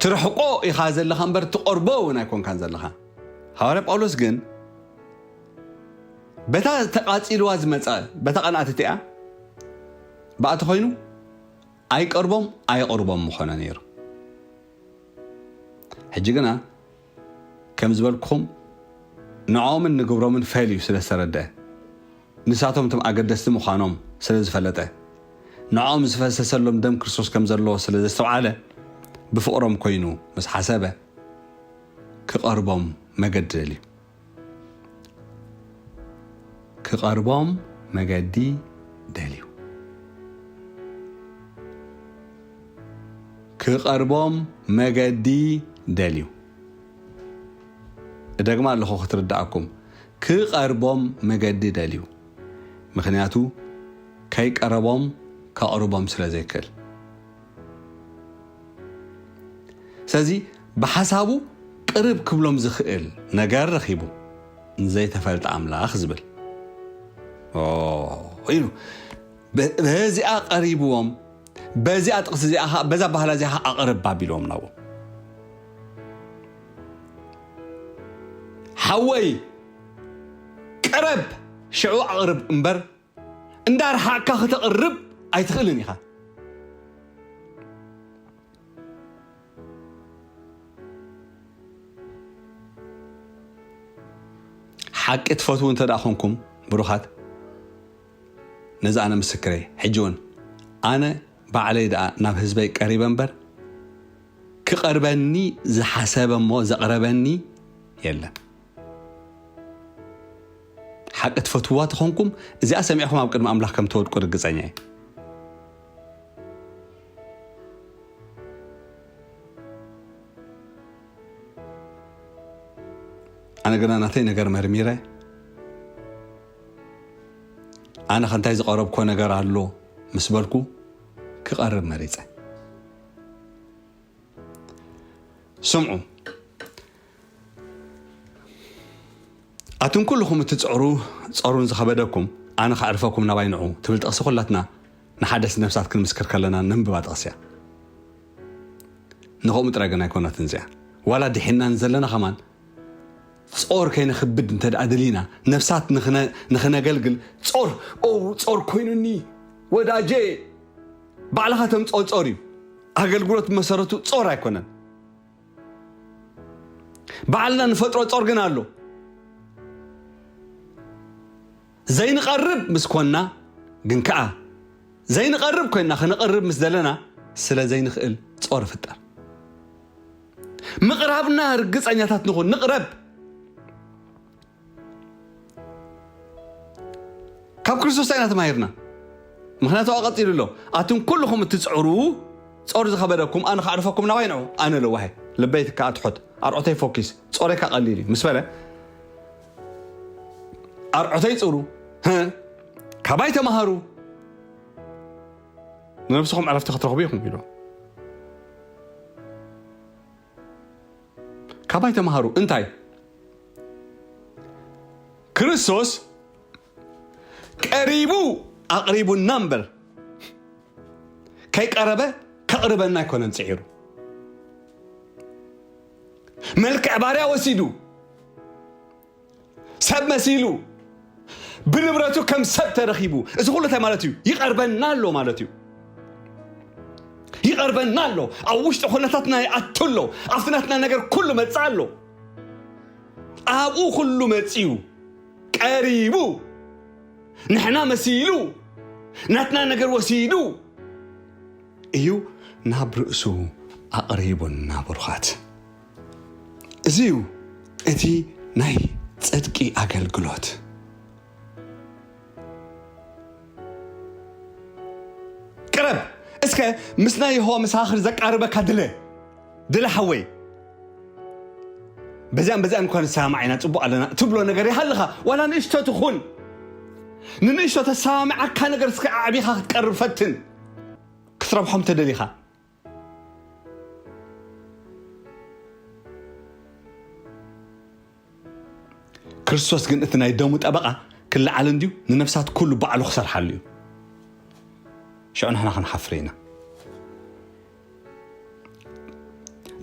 ትርሕቆ ኢኻ ዘለኻ እምበር ትቐርቦ እውን ኣይኮንካን ዘለኻ ሃዋርያ ጳውሎስ ግን በታ ተቓፂልዋ ዝመፀ በታ ቐንኣት እቲኣ ብኣቲ ኮይኑ ኣይቀርቦም ኣየቕርቦም ምኾነ ነይሩ ሕጂ ግና ከም ዝበልኩኹም ንዕኦምን ንግብሮምን ፈልዩ ስለ ዝተረድኣ፣ ንሳቶም እቶም ኣገደስቲ ምዃኖም ስለ ዝፈለጠ፣ ንዕኦም ዝፈሰሰሎም ደም ክርስቶስ ከም ዘሎ ስለ ዘስተውዓለ፣ ብፍቕሮም ኮይኑ ምስ ሓሰበ ክቐርቦም መገዲ ደልዩ። ክቐርቦም መገዲ ደልዩ። ክቐርቦም መገዲ ደልዩ። እደግማ ኣለኹ ክትርዳኣኩም። ክቐርቦም መገዲ ደልዩ። ምክንያቱ ከይቀረቦም ከቕርቦም ስለ ዘይክእል። ስለዚ ብሓሳቡ ቅርብ ክብሎም ዝኽእል ነገር ረኺቡ ንዘይተፈልጠ ኣምላኽ ዝብል ኢሉ በዚኣ ቀሪብዎም በዚኣ ጥቕሲ እዚኣ ከዓ በዛ ባህላ እዚኣ ከዓ ኣቕርብ ኣቢልዎም ናዎ ሓወይ ቅረብ ሽዑ ኣቕርብ እምበር እንዳርሓቅካ ክተቅርብ ኣይትክእልን ኢካ። ሓቂ ትፈትዉ እንተ ኮንኩም ብሩኻት ነዚ ኣነ ምስክረ ሕጂ እውን ኣነ ባዕለይ ደኣ ናብ ህዝበይ ቀሪበ እምበር ክቐርበኒ ዝሓሰበ እሞ ዘቕረበኒ የለን ሓቂ ትፈትውዋ ተኾንኩም እዚኣ ሰሚዕኹም ኣብ ቅድሚ ኣምላኽ ከም ትወድቁ ርግጸኛ እየ። ኣነ ግና ናተይ ነገር መርሚረ ኣነ ከንታይ ዝቐረብኮ ነገር ኣሎ ምስ በልኩ ክቐርብ መሪፀ ስምዑ ኣቱም ኩሉኹም እትጽዕሩ ጸሩን ዝኸበደኩም ኣነ ከዕርፈኩም ናባይ ንዑ ትብል ጥቕሲ ኩላትና ንሓደስቲ ነፍሳት ክንምስክር ከለና ነንብባ ጥቕሲ እያ። ንኸምኡ ጥራይ ግን ኣይኮነትን እዚኣ ዋላ ድሒና ንዘለና ከማን ጾር ከይነክብድ እንተ ደኣ ድሊና ነፍሳት ንኽነገልግል ጾር ኦ ጾር ኮይኑኒ ወዳጄ ባዕልኻ ተምጽኦ ጾር እዩ ኣገልግሎት መሰረቱ ጾር ኣይኮነን ባዕልና ንፈጥሮ ጾር ግን ኣሎ። ዘይንቐርብ ምስ ኮንና ግን ከኣ ዘይንቐርብ ኮይንና ከነቕርብ ምስ ዘለና ስለ ዘይንኽእል ጾር ይፍጠር። ምቕራብና ርግጸኛታት ንኹን፣ ንቕረብ። ካብ ክርስቶስ እንታይ ኢና ተማሂርና? ምክንያቱ ኣብኣ ቀጺሉ ኣሎ፣ ኣቱም ኩሉኹም እትጽዕሩ ጾር ዝኸበደኩም ኣነ ከዕርፈኩም ናባይ ንዑ ኣነ ለዋህ እየ ልበይ ከኣ ትሑት ኣርዑተይ ፎኪስ ጾረይ ከኣ ቀሊል እዩ ምስ በለ ኣርዑተይ ጽሩ ካባይ ተማሃሩ ንነብስኹም ዕረፍቲ ክትረኽቡ ኢኹም ኢሉ ካባይ ተማሃሩ እንታይ ክርስቶስ ቀሪቡ ኣቕሪቡና እምበር ከይቀረበ ከቕርበና ኣይኮነን ፅዒሩ መልክዕ ባርያ ወሲዱ ሰብ መሲሉ ብንብረቱ ከም ሰብ ተረኺቡ እዚ ኩሉ እንታይ ማለት እዩ ይቐርበና ኣሎ ማለት እዩ ይቐርበና ኣሎ ኣብ ውሽጢ ኩነታትና ይኣቱ ኣሎ ኣብቲ ናትና ነገር ኩሉ መፅእ ኣሎ ኣብኡ ኩሉ መፅዩ ቀሪቡ ንሕና መሲሉ ናትና ነገር ወሲዱ እዩ ናብ ርእሱ ኣቕሪቡና ብሩኻት እዚ እዩ እቲ ናይ ጽድቂ ኣገልግሎት። ቅረብ እስከ ምስ ናይ የሆዋ መሰኻኽር ዘቃርበካ ድለ ድለ ሓወይ በዚኣን በዚኣን እኳ ንሰማማዕ ኢና ጽቡቕ ኣለና እትብሎ ነገር ይሃልኻ ዋላ ንእሽቶ ትኹን ንንእሽቶ ተሰማሚዓካ ነገር እስከ ኣዕቢኻ ክትቀርብ ፈትን ክትረብሖም ተደሊኻ ክርስቶስ ግን እቲ ናይ ደሙ ጠበቓ ክለዓል እንድዩ ንነፍሳት ኩሉ ባዕሉ ክሰርሓሉ እዩ ሽዑ ንሕና ክንሓፍር ኢና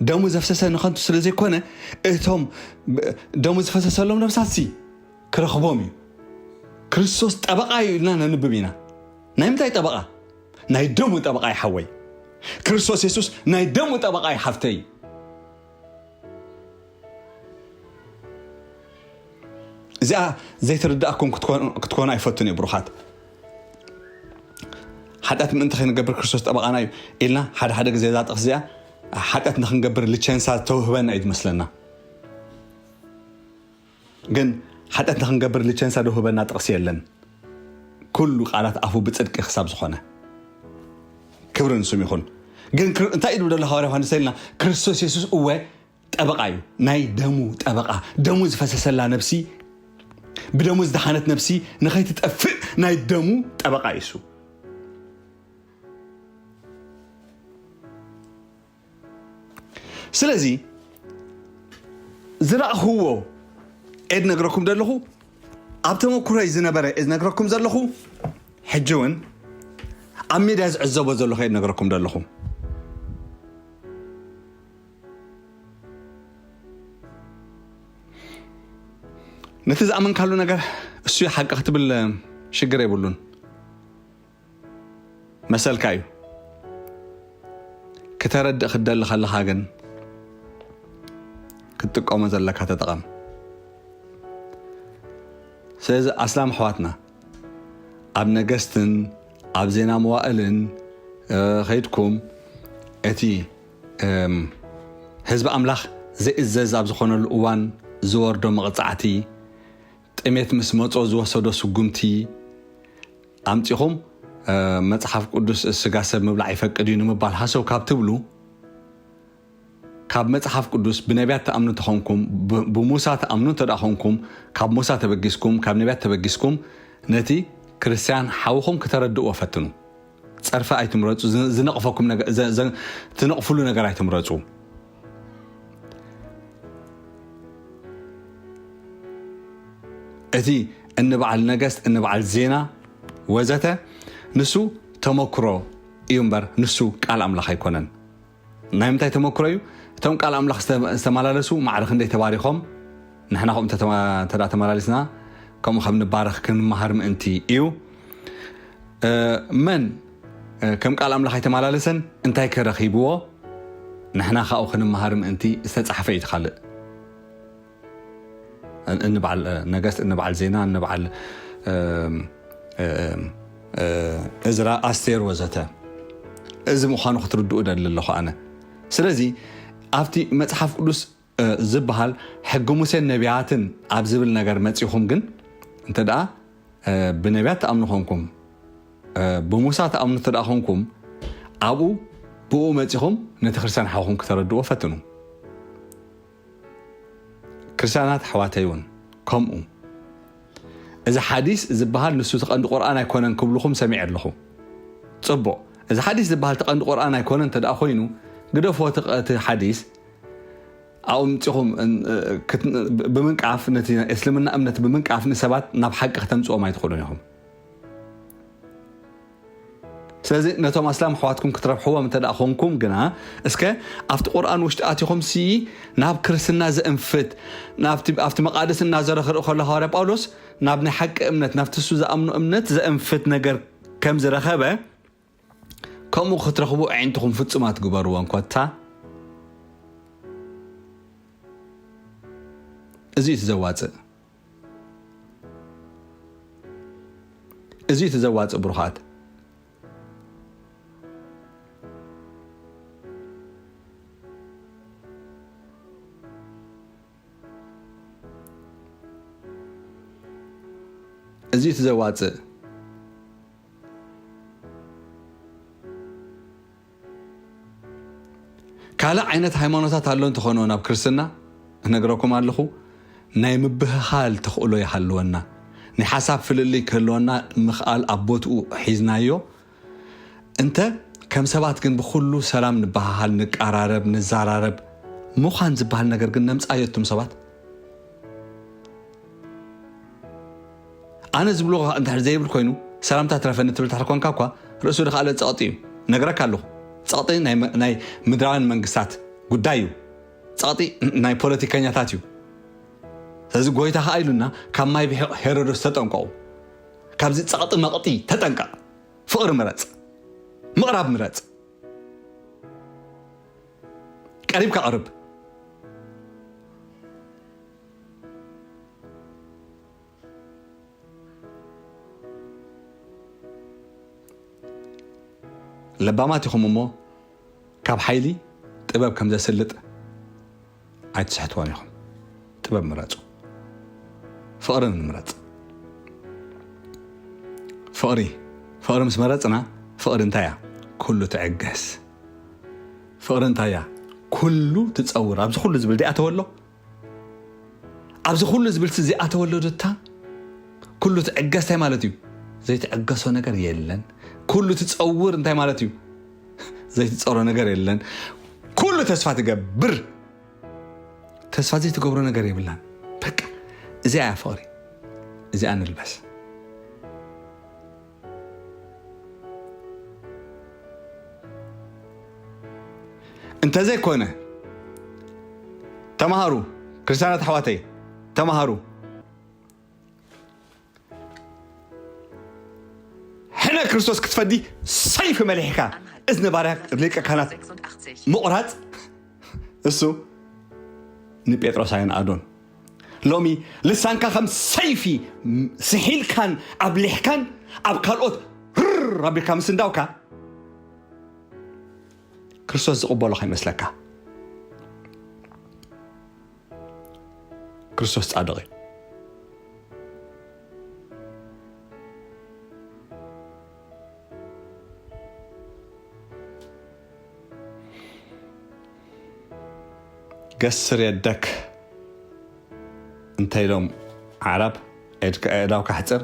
ደሙ ዘፍሰሰ ንኸንቱ ስለ ዘይኮነ እቶም ደሙ ዝፈሰሰሎም ነብሳት ሲ ክረኽቦም እዩ ክርስቶስ ጠበቃ እዩ ኢልና ነንብብ ኢና ናይ ምንታይ ጠበቃ ናይ ደሙ ጠበቓይ ሓወይ ክርስቶስ የሱስ ናይ ደሙ ጠበቓይ ሓፍተይ እዚኣ ዘይትርድኣኩም ክትኮኑ ኣይፈቱን እዩ ብሩኻት ሓጢኣት ምእንቲ ከይንገብር ክርስቶስ ጠበቓና እዩ ኢልና ሓደ ሓደ ግዜ እዛ ጥቕስ እዚኣ ሓጢኣት ንክንገብር ልቸንሳ ዝተውህበና እዩ ዝመስለና ግን ሓጢኣት ንክንገብር ልቸንሳ ድውህበና ጥቅሲ የለን ኩሉ ቃላት ኣፉ ብጽድቂ ክሳብ ዝኮነ ክብሪ ንስም ይኩን ግን እንታይ እዩ ደሎ ሃዋርያ ዮሃንስ ተልና ክርስቶስ የሱስ እወ ጠበቃ እዩ ናይ ደሙ ጠበቃ ደሙ ዝፈሰሰላ ነብሲ ብደሙ ዝደሓነት ነብሲ ንከይትጠፍእ ናይ ደሙ ጠበቃ እዩ ስለዚ ዝረእኽዎ እየ ዝነግረኩም ዘለኹ ኣብ ተመኩሮይ ዝነበረ እየ ዝነግረኩም ዘለኹ ሕጂ እውን ኣብ ሜድያ ዝዕዘቦ ዘለኹ እየ ዝነግረኩም ዘለኹ ነቲ ዝኣመንካሉ ነገር እሱ ሓቂ ክትብል ሽግር የብሉን መሰልካ እዩ ክተረድእ ክትደሊ ከለካ ግን ክትጥቀሞ ዘለካ ተጠቐም ስለዚ ኣስላም ኣሕዋትና ኣብ ነገስትን ኣብ ዜና መዋእልን ከይድኩም እቲ ህዝቢ ኣምላኽ ዘይእዘዝ ኣብ ዝኾነሉ እዋን ዝወርዶ መቕጻዕቲ ጥሜት ምስ መጾ ዝወሰዶ ስጉምቲ ኣምጺኹም መጽሓፍ ቅዱስ ስጋ ሰብ ምብላዕ ይፈቅድ እዩ ንምባል ሃሰው ካብ ትብሉ ካብ መጽሓፍ ቅዱስ ብነቢያት ትኣምኑ ተኾንኩም ብሙሳ ትኣምኑ እንተ ኾንኩም ካብ ሙሳ ተበጊስኩም ካብ ነቢያት ተበጊስኩም ነቲ ክርስትያን ሓውኹም ክተረድእዎ ፈትኑ ጸርፊ ኣይትምረጹ ዝነቕፈኩም ዝነቕፍሉ ነገር ኣይትምረጹ እቲ እንበዓል ነገስት እንበዓል ዜና ወዘተ ንሱ ተመክሮ እዩ እምበር ንሱ ቃል ኣምላኽ ኣይኮነን ናይ ምንታይ ተመክሮ እዩ እቶም ቃል ኣምላኽ ዝተመላለሱ ማዕረ ክንደይ ተባሪኾም ንሕና ከምኡ እንተ ተመላሊስና ከምኡ ከም ንባረኽ ክንመሃር ምእንቲ እዩ መን ከም ቃል ኣምላኽ ኣይተማላለሰን እንታይ ከ ረኺብዎ ንሕና ካብኡ ክንመሃር ምእንቲ ዝተጻሕፈ እዩ ትካልእ እንበዓል ነገስት እንበዓል ዜና እንበዓል እዝራ ኣስቴር ወዘተ እዚ ምዃኑ ክትርድኡ ደሊ ኣለኹ ኣነ ስለዚ ኣብቲ መፅሓፍ ቅዱስ ዝብሃል ሕጊ ሙሴን ነብያትን ኣብ ዝብል ነገር መጺኹም ግን እንተድኣ ብነብያት ትኣምኑ ኮንኩም ብሙሳ ትኣምኑ እንተድኣ ኮንኩም ኣብኡ ብኡ መጺኹም ነቲ ክርስትያን ሓውኹም ክተረድዎ ፈትኑ ክርስትያናት ኣሕዋተይ እውን ከምኡ እዚ ሓዲስ ዝበሃል ንሱ እቲ ቀንዲ ቁርኣን ኣይኮነን ክብልኹም ሰሚዐ ኣለኹ ፅቡቅ እዚ ሓዲስ ዝበሃል እቲ ቀንዲ ቁርኣን ኣይኮነን እንተደኣ ኮይኑ ግደፎ እቲ ሓዲስ ኣውምጺኹም ብምንቃፍ ነቲ ናይ እስልምና እምነት ብምንቃፍ ንሰባት ናብ ሓቂ ክተምጽኦም ኣይትኽእሉን ኢኹም ስለዚ ነቶም ኣስላም ኣሕዋትኩም ክትረብሕዎም እንተ ኮንኩም ግና እስከ ኣብቲ ቁርኣን ውሽጢ ኣቲኹም ሲ ናብ ክርስትና ዘእንፍት ኣብቲ መቃደስ እናዘረ ክርኢ ከሎ ሃዋርያ ጳውሎስ ናብ ናይ ሓቂ እምነት ናብቲ እሱ ዝኣምኖ እምነት ዘእንፍት ነገር ከም ዝረኸበ ከምኡ ክትረኽቡ ኣዒንትኹም ፍጹም ኣትግበርወን ኮታ እዚ እቲ ዘዋጽእ እዚ እቲ ዘዋጽእ ብሩኻት እዚ እቲ ዘዋጽእ ካልእ ዓይነት ሃይማኖታት ኣሎ እንተኾነ ናብ ክርስትና እነግረኩም ኣለኹ ናይ ምብህኻል ተኽእሎ ይሃልወና ናይ ሓሳብ ፍልልይ ከህልወና ምኽኣል ኣብ ቦትኡ ሒዝናዮ እንተ ከም ሰባት ግን ብኩሉ ሰላም ንበሃሃል ንቀራረብ ንዘራረብ ምዃን ዝበሃል ነገር ግን ነምፃዮ እቱም ሰባት ኣነ ዝብሎ ከኣ እንድሕር ዘይብል ኮይኑ ሰላምታ ትረፈኒ ትብል እንድሕር ኮንካ እኳ ርእሱ ድካኣለ ጸቕጢ እዩ ነግረካ ኣለኹ ጸቕጢ ናይ ምድራውያን መንግስታት ጉዳይ እዩ ጸቕጢ ናይ ፖለቲከኛታት እዩ ስለዚ ጎይታ ከኣ ኢሉና ካብ ማይ ብሒቕ ሄሮዶስ ተጠንቀቑ ካብዚ ጸቕጢ መቕጢ ተጠንቀቕ ፍቕሪ ምረጽ ምቕራብ ምረጽ ቀሪብካ ቅርብ ለባማት ኢኹም እሞ ካብ ሓይሊ ጥበብ ከም ዘስልጥ ኣይትስሕትዎን ኢኹም ጥበብ ምረፁ ፍቕሪ ንምረፅ ፍቕሪ ፍቕሪ ምስ መረፅና ፍቕሪ እንታይ እያ ኩሉ ትዕገስ ፍቕሪ እንታይ እያ ኩሉ ትፀውር ኣብዚ ኩሉ ዝብል ዲኣ ተወሎ ኣብዚ ኩሉ ዝብልሲ ዘይኣተወሉ ድታ ኩሉ ትዕገስ እንታይ ማለት እዩ ዘይትዕገሶ ነገር የለን ኩሉ ትፀውር እንታይ ማለት እዩ ዘይትፀሮ ነገር የለን ኩሉ ተስፋ ትገብር ተስፋ ዘይትገብሮ ነገር የብላን በቃ እዚኣ እያ ፍቕሪ እዚኣ ንልበስ እንተዘይኮነ ተማሃሩ ክርስትያናት ኣሕዋተይ ተማሃሩ ሕነ ክርስቶስ ክትፈዲ ሰይፊ መሊሕካ እዝኒ ባርያ ሊቀ ካህናት ምቑራፅ እሱ ንጴጥሮስ ኣይንኣዶን ሎሚ ልሳንካ ከም ሰይፊ ስሒልካን ኣብሊሕካን ኣብ ካልኦት ርር ኣቢልካ ምስንዳውካ ክርስቶስ ዝቕበሎ ከይመስለካ ክርስቶስ ጻድቕ እዩ ገስር የደክ እንተ ኢሎም ኣዕራብ፣ ኤድካ ኣእዳውካ ኣሕጽር፣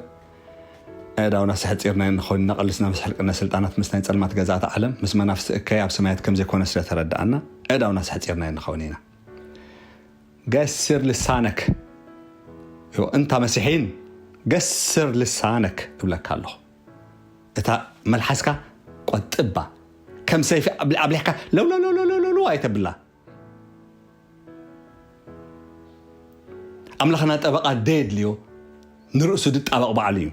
ኣእዳውና ኣስሐጺርናዮ እንኸውን ኢና፣ ቀልስና ምስ ሕልቅነት ስልጣናት፣ ምስ ናይ ጸልማት ገዛእቲ ዓለም፣ ምስ መናፍስቲ እከይ ኣብ ሰማያት ከም ዘይኮነ ስለ ተረዳኣና፣ ኣእዳውና ኣስሐጺርናዮ እንኸውን ኢና። ገስር ልሳነክ፣ እታ መሲሒን ገስር ልሳነክ እብለካ ኣለኹ። እታ መልሓስካ ቆጥባ ከም ሰይፊ ኣብሊሕካ ለውለውለውለውለው ኣይተብላ ኣምላኽና ጠበቃ ደየድልዮ ንርእሱ ድጣበቕ ባዕሉ እዩ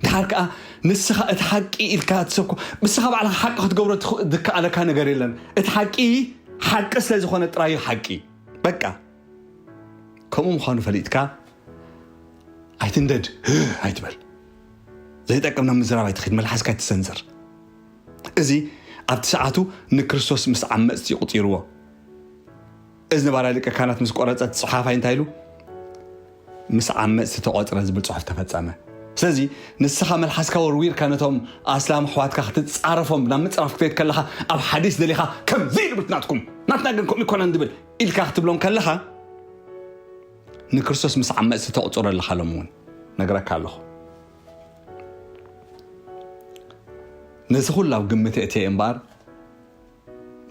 ድሓር ከዓ ንስኻ እቲ ሓቂ ኢልካ ትሰብኮ ንስኻ ባዕልኻ ሓቂ ክትገብሮ ዝከኣለካ ነገር የለን እቲ ሓቂ ሓቂ ስለ ዝኾነ ጥራዩ ሓቂ በቃ ከምኡ ምዃኑ ፈሊጥካ ኣይትንደድ ኣይትበል ዘይጠቅም ናብ ምዝራብ ኣይትኸይድ መልሓስካ ኣይትሰንዝር እዚ ኣብቲ ሰዓቱ ንክርስቶስ ምስ ዓመፅቲ ይቁፂርዎ እዚ ነባራይ ሊቀ ካህናት ምስ ቆረፀት ፀሓፋይ እንታይ ኢሉ ምስ ዓመፅቲ ተቆፅረ ዝብል ፅሑፍ ተፈፀመ ስለዚ ንስኻ መልሓስካ ወርዊርካ ነቶም ኣስላም ኣሕዋትካ ክትፃረፎም ናብ ምፅራፍ ክትከይድ ከለኻ ኣብ ሓዲስ ደሊኻ ከምዚ ኢሉ ብትናትኩም ናትና ግን ከምኡ ይኮነን ዝብል ኢልካ ክትብሎም ከለኻ ንክርስቶስ ምስ ዓመፅቲ ተቑፅሮ ኣለኻ ሎም እውን ነግረካ ኣለኹ ነዚ ኩሉ ኣብ ግምት እትየ እምበኣር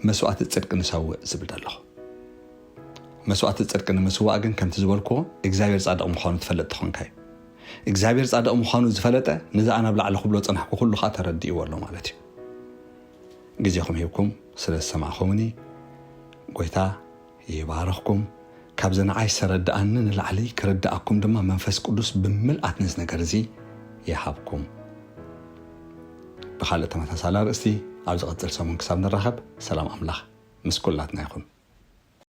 መስዋእቲ ፅድቂ ንሰውእ ዝብል ዘለኹ መስዋእቲ ፅድቂ ንምስዋእ ግን ከምቲ ዝበልክዎ እግዚኣብሔር ፃድቕ ምዃኑ ትፈለጥ ትኾንካ እዩ እግዚኣብሔር ፃድቕ ምዃኑ ዝፈለጠ ነዚ ኣናብ ላዕሊ ክብሎ ፅናሕኩ ኩሉ ከዓ ተረድእዎ ኣሎ ማለት እዩ ግዜኹም ሂብኩም ስለ ዝሰማዕኹምኒ ጎይታ ይባርኽኩም። ካብዚ ንዓይ ዝተረድኣኒ ንላዕሊ ክርድኣኩም ድማ መንፈስ ቅዱስ ብምልኣት ነዚ ነገር እዚ ይሃብኩም። ብኻልእ ተመሳሳሊ ኣርእስቲ ኣብ ዝቕጽል ሰሙን ክሳብ ንራኸብ ሰላም ኣምላኽ ምስ ኩላትና ይኹን።